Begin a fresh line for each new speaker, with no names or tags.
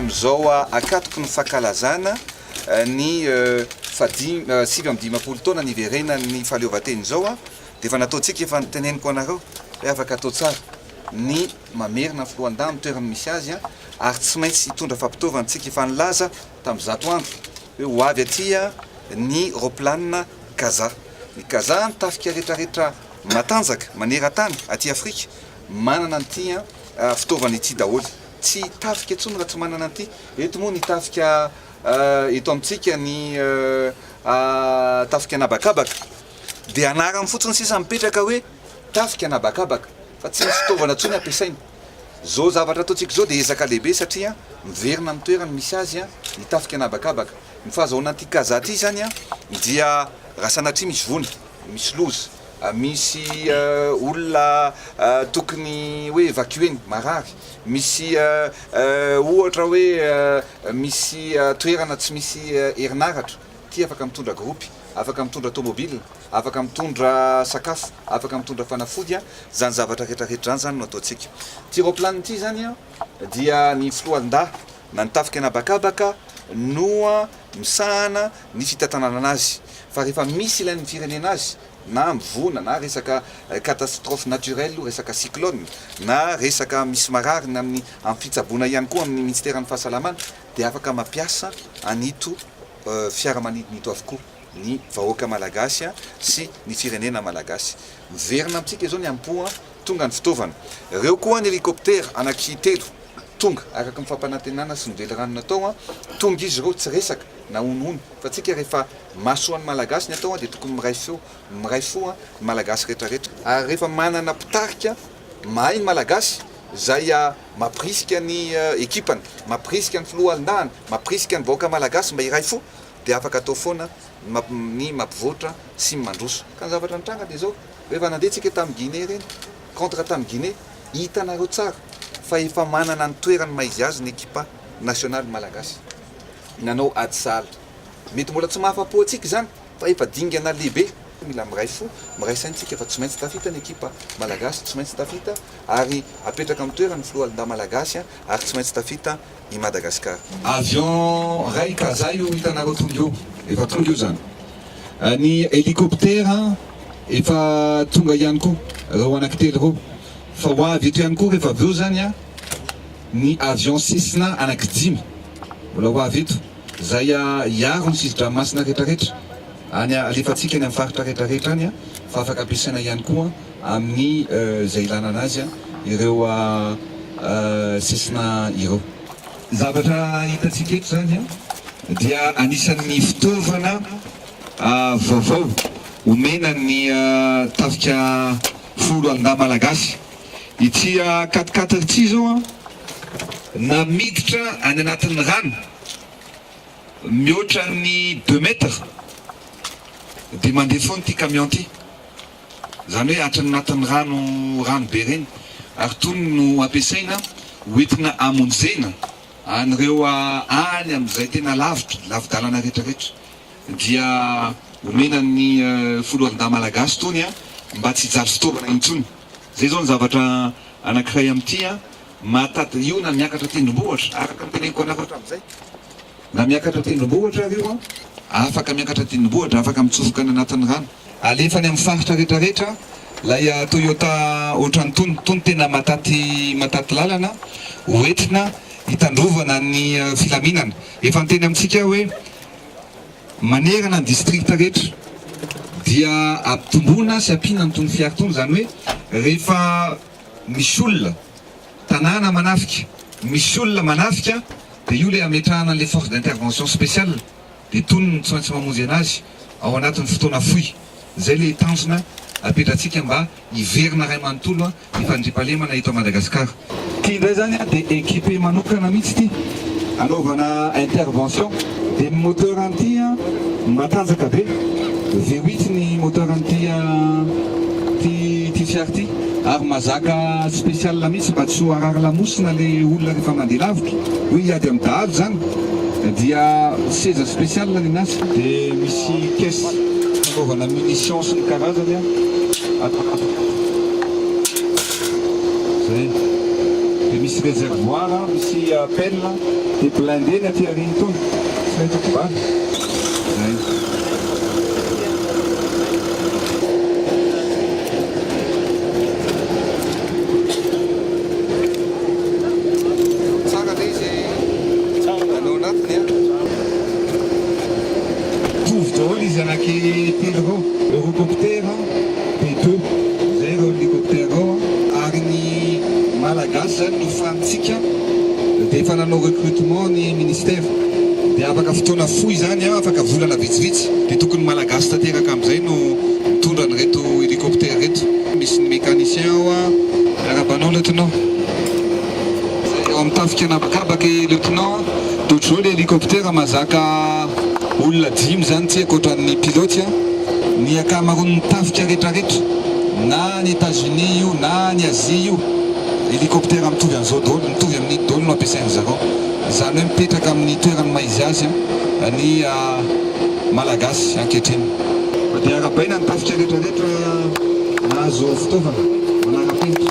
Amin'izao ankatoky ny fankalazana ny fahadimy sivy amby dimampolo taona niverenan'ny fahaleovantena izao dia efa nataontsika efa noteneniko anareo hoe afaka atao tsara ny Mamerina ny foloalindahy amin'ny toerany misy azy ary tsy maintsy hitondra fampitaovana tsiky efa nilaza tamin'ny zato andro hoe ho avy aty ny raoplanina Kaza. Ny Kaza, ny tafika retraretra matanjaka maneran-tany aty Afrika, manana an'ity fitaovana ity daholo. Tsy tafika intsony raha tsy manana an'ity. Eto moa ny tafika eto amintsika ny tafika an'habakabaka dia anarany fotsiny sisa mipetraka hoe tafika an'habakabaka. fa tsy misy fitaovana intsony ampiasaina. Izao zavatra ataontsika izao dia ezaka lehibe satria miverina amin'ny toerany misy azy ny tafika na habakabaka. Ny fahazahoana an'ity kazaha ity izany dia raha sanatria misy voina, misy loza, misy olona tokony hoe evacuer-na, marary, misy ohatra hoe misy toerana tsy misy herinaratra, Ity afaka mitondra groupe, afaka mitondra tomobile, afaka mitondra sakafo, afaka mitondra fanafody an, zany zavatra rehetra rehetra zany zany no ataontsika. Ity raoplanina ity zany an dia ny filohandahy na ny tafika anabakabaka no an misahana ny fitantanana azy fa rehefa misy ilain'ny firenena azy na mivona na resaka catastrophe naturelle o resaka cyclone na resaka misy marary ny amin'ny amin'ny fitsaboana ihany koa amin'ny minisiteran'ny fahasalamana dia afaka mampiasa an'ito fiaramanidina ito avokoa ny vahoaka malagasy sy ny firenena malagasy. Miverina amintsika izao ny ampoa, tonga ny fitaovana. Ireo koa ny helicoptère anaky telo tonga, araka ny fampanantenana sy ny velirano natao, tonga izy ireo tsy resaka na honohono fa tsika rehefa mahasoa ny malagasy ny atao dia tokony miray feo, miray fo ny malagasy retraretra. Ary rehefa manana mpitarika mahay ny malagasy izay mampirisika ny ekipany, mampirisika ny filoha halondahany, mampirisika ny vahoaka malagasy mba hiray fo dia afaka atao foana ny mampivoatra sy ny mandroso. Ka ny zavatra nitranga dia izao, rehefa nandeha tsika tamin'ny Guinée ireny, contre tamin'ny Guinée, hitanareo tsara fa efa manana ny toerany maha izy azy ny ekipa nationale malagasy. Nanao ady sahala. Mety mbola tsy mahafapo antsika izany. Fa efa dingana lehibe, mila miray fo, miray saina isika fa tsy maintsy tafita ny ekipa Malagasy, tsy maintsy tafita ary apetraka amin'ny toerany ny foloalindahy Malagasy ary tsy maintsy tafita i Madagascar. Avion ray ka zay io hitanareo tonga io efa tonga io zany. Ny helicoptera efa tonga ihany koa reo anakitelo reo fa ho avy eto ihany koa refa avy eo zany ny avion Cessna anakidimy mbola ho avy eto. Izay hiaro ny sisin-dranomasina rehetrarehetra any alefantsika any amin'ny faritra rehetrarehetra any fa afaka ampiasaina ihany koa amin'ny izay ilana anazy ireo sisina ireo. Ny zavatra hitantsika eto izany dia anisan'ny fitaovana vaovao omena ny tafika folo andahy malagasy. Ity katikaty ity zao an, na miditra any anatin'ny rano mihoatra ny deux mètres dia mandeha foana ity camion ity, izany hoe hatry ny anatin'ny rano rano be ireny, ary itony no ampiasaina hoentina hamonjena an'ireo any amin'izay tena lavitra, lavi-dalana retraretra, dia omena ny foloalindahy malagasy itony mba tsy hijaly fitaovana intsony. Zay zao ny zavatra anankiray amin'ity an, mahataty io na miakatra tendrombohitra, araka ny teneniko anareo hatramin'izay, na miakatra tendrombohitra ary io an, afaka miakatra tendrombohitra, afaka mitsofoka any anatin'ny rano. Alefa any amin'ny faritra rehetra rehetra ilay Toyota ohatran'itony, tony tena mahataty mahataty lalana ho entina hitandrovana ny filaminana. Efa niteny amintsika aho hoe. Manerana ny distrikta rehetra dia ampitomboina sy ampiana ny tony fiara tony, izany hoe rehefa misy olona, tanàna manafika, misy olona manafika dia io ilay ametrahana an'ilay force d'intervention spéciale dia tonony ny tsy maintsy mamonjy an'azy ao anatin'ny fotoana fohy. Izay ilay tanjona apetratsika mba hiverina iray manontolo mpifandriampahalemana eto Madagascar. Ty ndray zany a de equipe manokana mitsy ty anaovana intervention de ny moteur an'ty a matanjaka be vewit ny moteur an'ty a ty ty fiara ty ary mazaka special mitsy mba tsy ho harary lamosina le olona refa mande lavitra hoe hiady am dahalo zany dia seza special ny anazy de misy caisse Fitaovana munitions sy ny karazany an. Zay. Dia
misy réservoir an, misy pelle an. Dia blindé ny aty aoriana itony. Tsy maintsy mivaha. Mitovy daholo izy anaky telo ireo, Eurocopter, B2, izay ireo helicoptère ireo an. Ary ny Malagasy izany no fanintsika dia efa nanao recrutement ny Ministère dia afaka fotoana fohy izany an, afaka volana vitsivitsy dia tokony Malagasy tanteraka amin'izay no mitondra an'ireto helicoptère ireto. Misy ny mécanicien ao an. Miarahaba anao Lieutenant. izay ao amin'ny tafika an'habakabaka e lieutenant Dojo le hélicoptère mazaka olona dimy izany tsy haiko otran'ny pilote a ny akamaroan'ny tafika retraretra na any États-Unis io na any Asie io hélicoptère mitovy an'izao daholo mitovy amin'iny daholo no ampiasain-dry zareo izany hoe mipetraka amin'ny toeran'ny maha izy azy ny malagasy ankehitriny. Fa dia arahabaina ny tafika retraretra nahazo fitaovana manara-penitra.